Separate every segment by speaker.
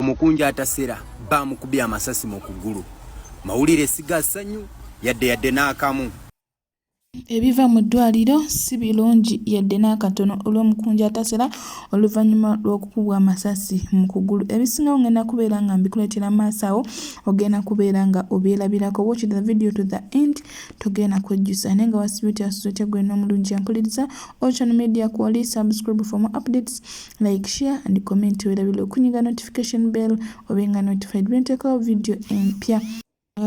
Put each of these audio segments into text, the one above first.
Speaker 1: Omukunja atasera bamukubye amasasi mu kugulu. Mawulire siga sanyu yadde yadde n'akamu.
Speaker 2: Ebiva mu ddwaliro si birungi yadde n'akatono olw'omukunja atasera oluvannyuma lw'okukubwa amasasi mu kugulu. Ebisingawo ngenda kubeera nga mbikuleetera maaso awo ogenda kubeera nga obyerabirako. Watch the video to the end togenda kwejjusa naye nga wasibye otya susa otya gwena omulungi yampuliriza. Ocean Media Kwoli subscribe for more updates. like share and comment werabile okunyiga notification bell obenga notified bentekawo video empya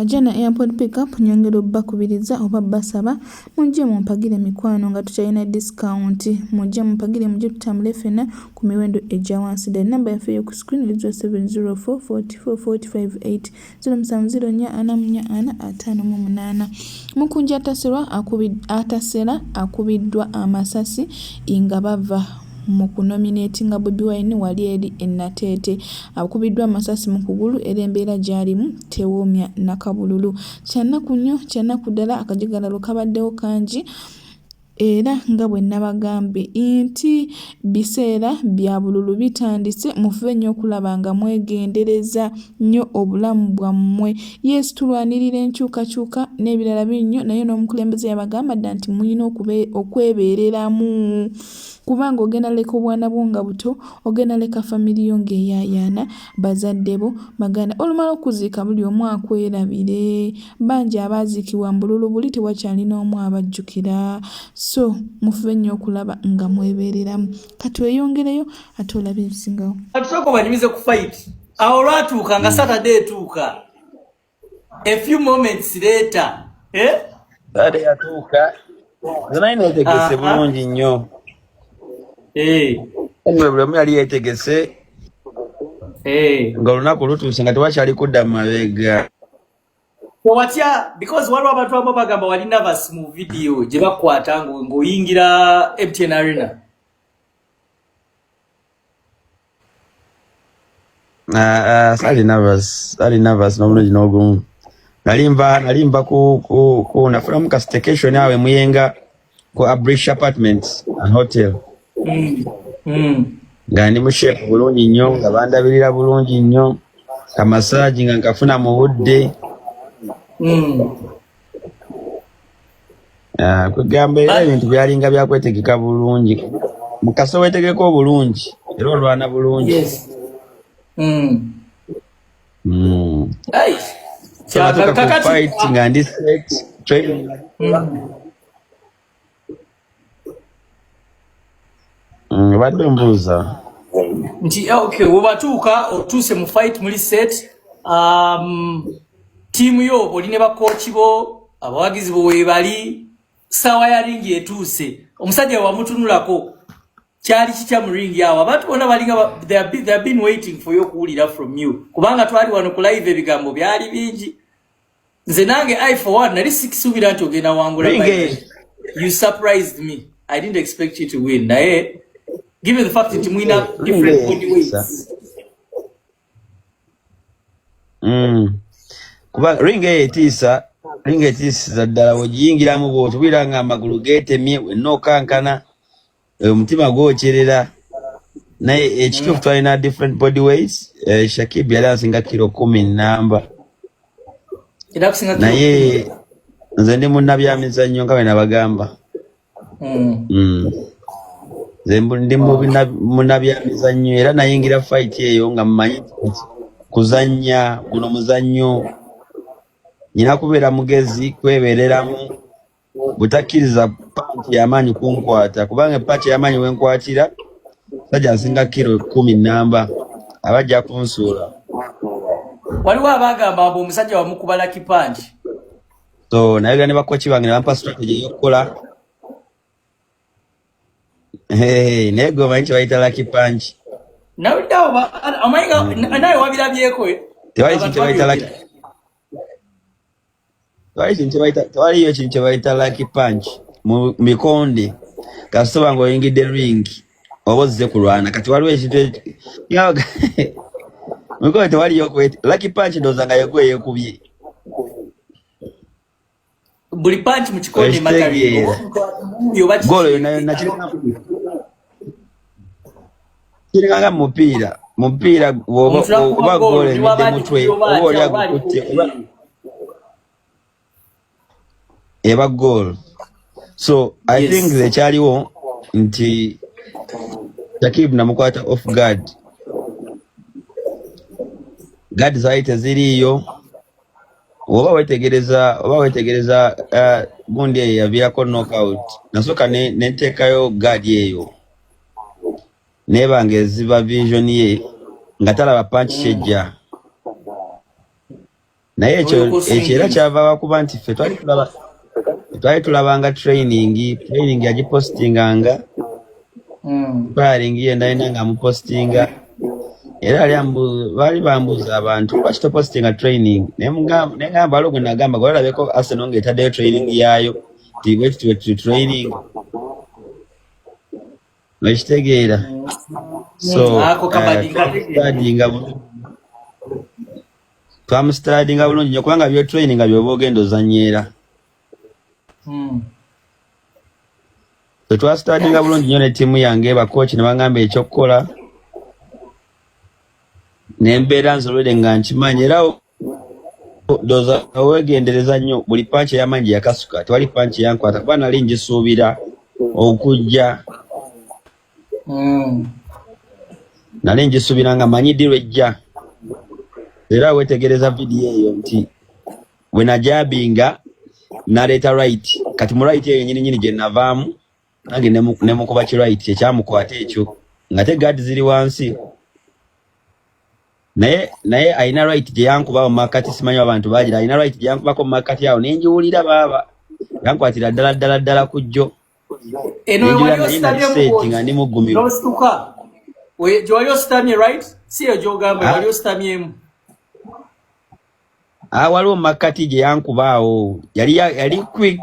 Speaker 2: ajana airport pickup nyongera obbakubiriza oba basaba mujje mumpagire mikwano nga tukyalina discount mujje mumpagire mujje tutambule fena ku miwendo egya wansi ddala namba yaffe eyoku screen ezwa 704 44 458 ziro musanvu ziro nnya ana mu nnya ana ataano mu munaana mukunja atasirwa atasera akubiddwa amasasi nga bava mu kunominatinga bobi wine wali eri enateete akubiddwa amasasi mu kugulu era embeera gyalimu tewoomya nakabululu kyannaku nnyo kyannaku ddala akajagalalo kabaddewo kangi Era nga bwe nabagambye inti biseera bya bululu bitandise mufube nyo okulaba nga mwegendereza nyo obulamu bwamwe. Yes tulwanirira enkyukakyuka nebirala bingi nyo naye nomukulembeze yabagamba dda nti muyina okwebereramu kubanga ogenda leka obwana bwo nga buto, ogenda leka family yo nga eyayaana bazadde bo, baganda. Olumala okuziika buli omu akwerabire. Bangi abaaziikibwa mu bululu buli tewakyali n'omu abajjukira. So mufube nnyo okulaba nga mwebeereramu. Ka tweyongereyo ate olabe ebisingawo. Ka tusooke obanyumize ku
Speaker 3: fayiti. Awo olwatuuka nga Saturday etuuka. a few moments later eh dade
Speaker 4: yatuuka zinayi netegese bulungi nnyo eh. anyway buli omu yali yetegese eh. nga olunaku lutuuse nga tewakyali kudda mu mabega
Speaker 3: watya because waliwo abantu abamu bagamba wali nervous mu video gye bakwata ng'oyingira mtn arena
Speaker 4: Ah, ah, sali nervous, sali nervous na mno jinogumu. Nalimba, nalimba ku, ku, ku nafuna muka staycation awe muyenga ku Abrish Apartments and Hotel. Mm. Mm. Nga ndi mu shape bulungi nnyo, nga bandabirira bulungi nnyo. Ka massage nga nkafuna mu budde. Mm. Ah, kwegamba era ebintu byalinga byakwetegeka bulungi mukasa wetegeka obulungi era olwana bulungi hmm. Hmm. nga ndi set training hmm. Mm, badde mbuuza nti
Speaker 3: eh, okay webatuuka otuuse mu fight muli set um, tiimu yo oli ne bakooki bo abawagizi bo webali saawa ya ringi etuuse omusajja wamutunulako kyali kitya mu ringi awo abantu bona balinga they have been waiting for you okuwulira from you kubanga twali wano ku live ebigambo byali bingi nze nange i for one nali sikisuubira nti ogenda wangula you surprised me i didn't expect you to win naye given the fact nti mulina different body weights
Speaker 4: mm. kuba ring eyo etiisa ring etiisiza ddala wegiyingiramu bwotubira nga amagulu getemye wenna okankana Eh, omutima gwokyerera naye ekituufu twalina different body weight eh, shakib yali asinga kiro kumi namba naye nze ndi munnabyamizannyo nga bwenabagamba hmm. hmm. nze ndi munnabyamizannyo era nayingira fight eyo nga mmanyi kuzannya guno muzannyo nyina kubeera mugezi kwebereramu butakkiriza panti yamaanyi kunkwata kubanga epaati yamaanyi wenkwatira sajja nsinga kiro kumi namba aba ajja kunsuula
Speaker 3: waliwo abagamba mbu omusajja wamukubala kipangi so
Speaker 4: nayogera ne bakoki bange nebampa strategy eyokukola naye gwe omanyi kyebayita laki pangi
Speaker 3: nawe wabirabyeko tewali kintu kyebayita
Speaker 4: laki tewaliyo ekintu kyebayita laki punch mu mikonde kasitoba nga oyingidde ring oba ozze kulwana kati waliwo ekintu mikonde tewaliyo laki punch ndowooza nga yegwe yekubye
Speaker 3: buli punch mu kikonde mataliyo
Speaker 4: golo yonayona
Speaker 3: kirina
Speaker 4: kiringanga mupiira mupiira oba goola emidde mutwe oba oli agukutte eba goal so i yes. think ekyaliwo nti takib namukwata off guard guard zaali teziriiyo oba wetegereza oba wetegereza uh, gundi eyo yaviirako knockout nasooka neteekayo ne guard eyo naye bange eziba vision ye nga talaba panki kyejja naye ekyo ekyo era kyava wakuba nti ffe twali tulaba twali tulabanga training training yagipostinganga firing hmm. ye ndalina nga amupostinga era ali baali bambuuza abantu lwaki topostinga training naye ngamba waliwo gwe nagamba gwe olabeko arsenal nga etaddeyo training yaayo tibwekitibwe training okitegeera soadinga twamusitadinga bulungi nyo kubanga byotraininga byoba ogenda ozanyeera tetwasitadinga hmm. bulungi nyo ne tiimu yange bakooki ne bangamba ekyokukola nembeera nzolwere nga nkimanyi era doza wegendereza nnyo buli panki eyamanyi gye yakasuka tewali panki yankwata kuba nali ngisuubira okujja hmm. nali ngisuubira nga manyi ddi lwejja era wetegereza vidiyo eyo nti bwenajabinga naleeta right kati mu right eyo nyini nyini gye navaamu nange ne mukuba kirait kyekyamukwata ekyo nga te gad ziri wansi naye naye alina right gyeyankuba mu makkati simanyi abantu bagira alina right gyeyankubako mu makkati awo nenjiwulira baaba yankwatira ddala ddala ddala ku jjo nga ndi muggumiro
Speaker 3: gyewali ositamye right si eyo gyogamba ah. wali ositamyemu
Speaker 4: ah, waliwo mu makkati gyeyankuba awo yali yali quick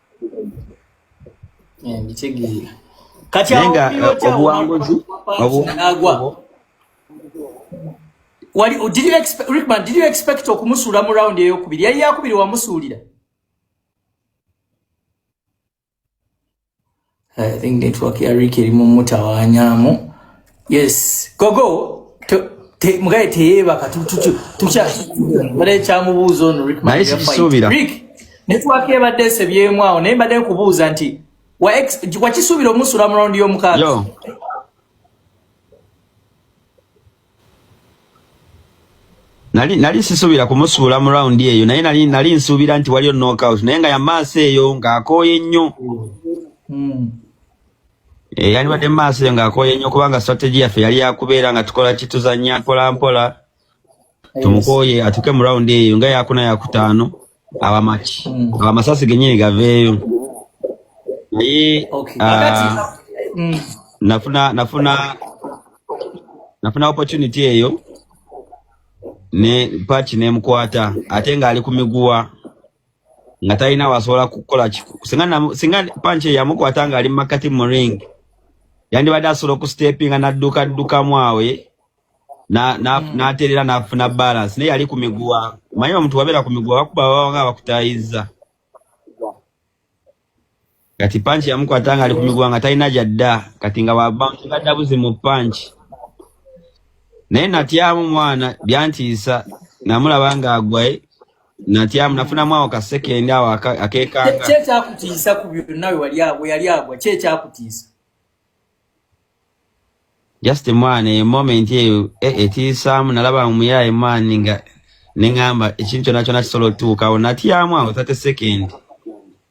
Speaker 3: kati
Speaker 4: obuwanguzi
Speaker 3: wali oh, did you expect Rickman did you expect okumusuula mu round eyokubiri yali yakubiri wamusuulira I think network ya Rick eri mu mutawanyamu. Yes. Gogo te mugaye teyeba ka tutu tucha bare cha mubuzo on Rick Mike. Nice bisubira. Rick network ya bade se byemwa awo naye bade kubuza nti wa ex wa kisubira omusura mu round yo mukaga. Yo.
Speaker 4: nali nali sisuubira kumusuula mu round eyo naye nali nali nsuubira nti waliyo knockout naye nga yamaaso eyo ng'akooye nnyo mm. eh, yandibadde mumaaso eyo ng'akooye nnyo kubanga strategy yaffe yali yakubeera nga tukola kituzanya mpola mpola tumukooye atuke mu round eyo nga yakuna yakutaano abamaki mm. abamasasi genyini gaveeyo naye ah, mm. nafuna nafuna nafuna opportunity eyo ne patch nemukwata ate nga ali ku miguwa nga talina wasobola kukola singa panche yamukwata nga ali mumakati mu ring yandibadde asobola okusitepinga naddukaddukamu awe na na mm. naterera nafuna balance naye yali ku miguwa manyi omuntu wabeera ku miguwa bakuba baba nga bakutayiza kati panchi yamukwata nga ali ku miguwa nga talina gyadda kati nga wabangaddabuzi mu panchi naye natyamu mwana byantiisa namulaba nga agwaye natyamu nafunamu awo kasekendi awo akekanga kyekyakutiisa ku
Speaker 3: byonna wewali agwa yali agwa kyekyakutiisa
Speaker 4: just mwana eyo moment eyo eh, etiisaamu nalaba omuyaaye mwana nga neŋamba ekintu kyona kyona kisobola otutuukawo natyamu awo tate second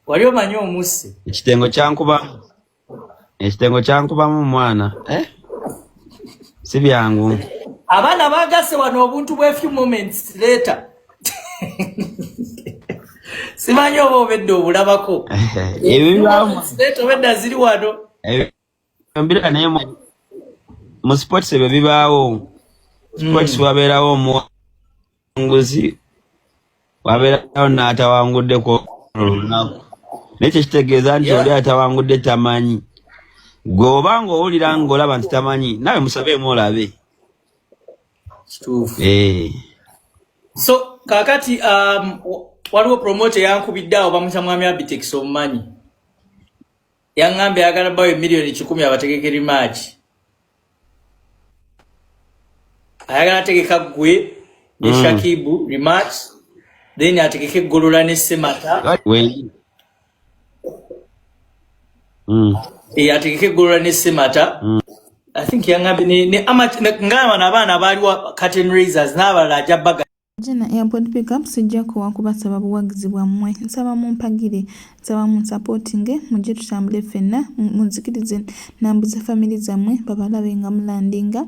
Speaker 4: wali
Speaker 3: omanyi omusse ekitengo
Speaker 4: kyankubamu ekitengo kyankubamu mwana eh? si byangu abaana
Speaker 3: bagase wano obuntu bwe few moments later simanyi oba obedde obulabako ebibamobedda ziri wano
Speaker 4: mbira naye mu sports ebyo bibaawo sports hmm. wabeerawo omuwanguzi wabeerawo n'atawangudde ku olunaku naye kyekitegeeza nti oli atawangudde tamanyi gwe oba nga owulira nga olaba nti tamanyi nawe musabeemu olabe kituufu eh.
Speaker 3: so kakati um, waliwo promote yankubidde awo bamusa mwami abitex omumanyi yaŋŋambye ayagala bawo emiliyoni kikumi abategekeri maaki ayagala ategeka gwe ne mm. shakibu rematch then ategeke golola ne semata mm. eyategeka eggolola ne semata mm. i think yangambye ne, ne amat ngamba nabaana baaliwa caten raisers n'abalala aja baga Jena airport
Speaker 2: pick up sijja kuwa kubasaba buwagizi bwammwe nsaba mumpagire nsaba munsapotinge mujje tutambule ffenna munzikirize nambuze famire zammwe babalabe nga mulandinga